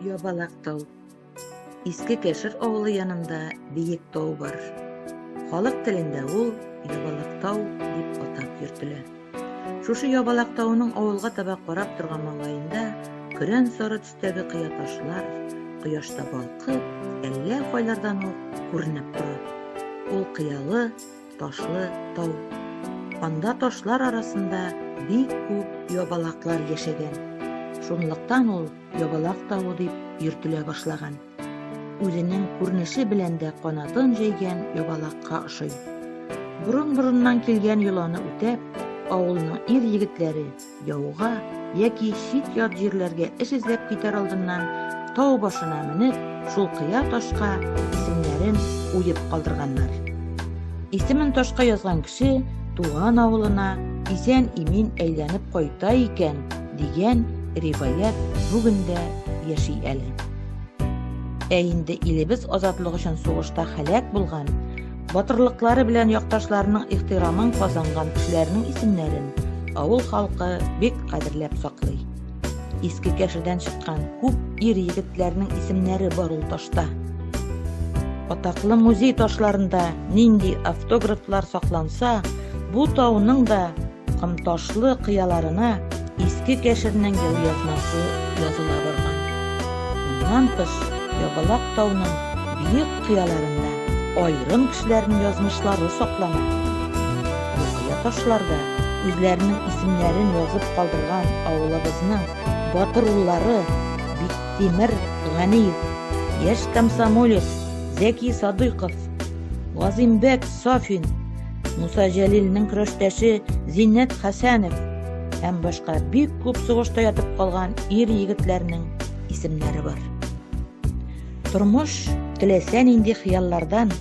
Ябалак тау. Иске Кәшер авылы янында биек тау бар. Халык телендә ул Ябалак тау дип атап йөртелә. Шушы Ябалак тауының авылга таба карап торган маңлаенда көрән сары Өстәге кыя ташлар кояшта балкып, әллә кайлардан ук күренеп тора. Ул кыялы, ташлы тау. Анда ташлар арасында бик күп ябалаклар яшәгән. Шунлыктан ул Ябалак тавы дип йөртелә башлаган. Үзенең күренеше белән дә канатын җәйгән ябалакка ошый. Борын-борыннан килгән йоланы үтәп, авылның ир-егетләре Яуга яки чит ят җирләргә эш эзләп китәр алдыннан тау башына менеп, шул кыя ташка исемнәрен уеп калдырганнар. Исемен ташка язган кеше туган авылына исән имин әйләнеп кайта икән дигән риваять бүген дә яши әле. Ә инде илебез азатлык өчен сугышта һәлак булган Батырлыклары белән якташларының ихтирамын казанган кешеләрнең исемнәрен авыл халкы бик кадерләп саклый. Иске кәшедән чыккан күп ир егетләрнең исемнәре бар ул ташта. Атаклы музей ташларында нинди автографлар сакланса, бу тауның да Кымташлы кыяларына иске кәшернең ел язмасы языла барган. Моннан тыш, Ябалак тауның биек кыяларында аерым кешеләрнең язмышлары саклана. Бу кыя ташларда үзләренең исемнәрен язып калдырган авылыбызның батыр уллары Биктимер Ганиев, яшь комсомолец Зәки Садыйков, Газимбәк Сафин, Муса Җәлилнең көрәштәше Зиннәт Хәсәнов һәм башка бик күп сугышта ятып калган ир егетләрнең исемнәре бар. Тормыш теләсә нинди хыяллардан,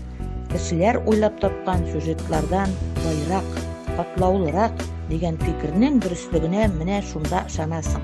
кешеләр уйлап тапкан сюжетлардан байрак, катлаулырак дигән фикернең дөреслегенә менә шунда ышанасың.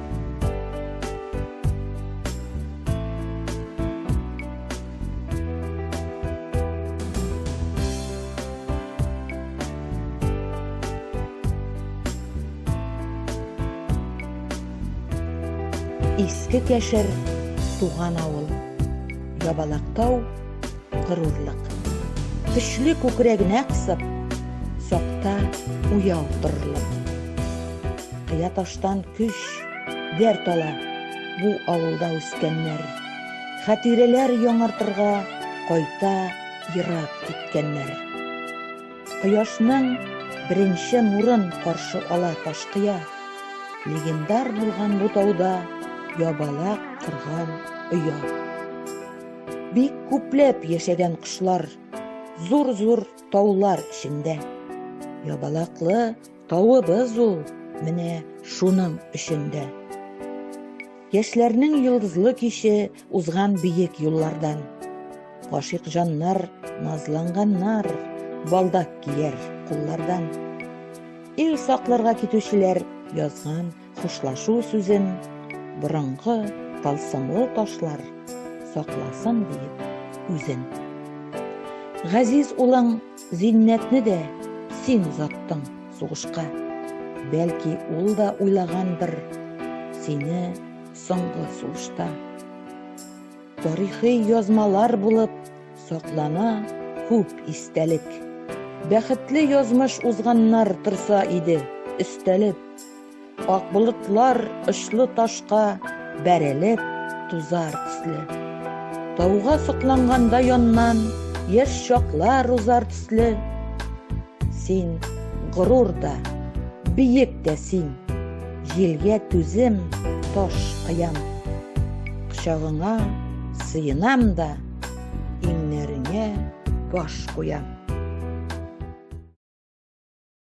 Иске Кәшер, туган авыл. Ябалактау, горурлык. Көчле күкрәгенә кысып, сакта уяу торырлык. Кыя тормыштан көч, дәрт ала бу авылда үскәннәр. Хәтирәләр яңартырга кайта ерак киткәннәр. Кояшның беренче нурын каршы ала Ташкыя. Легендар булган бу тауда ябалак кырган оя. Бик күпләп яшәгән кошлар, зур-зур таулар эчендә. Ябалаклы Тавыбыз ул, менә шуның өчен дә. Яшьләрнең йолдызлы киче узган биек юллардан. Гашыйк җаннар, назланганнар, балдак кияр куллардан. Ил сакларга китүчеләр язган Хушлашу сүзен борынгы талсымлы ташлар сакласын диеп үзен. Газиз улың Зиннәтне дә син озаттың сугышка. Бәлки ул да уйлагандыр сине соңгы сулышта. Тарихи язмалар булып саклана күп истәлек. Бәхетле язмыш узганнар торса иде, өстәлеп. Ак болытлар очлы ташка бәрелеп тузар төсле. Тауга сокланганда яннан яшь чаклар узар төсле. Син горур да, биек тә син. Җилгә түзем таш кыям. Кочагыңа сыенам да, иңнәреңә баш куям.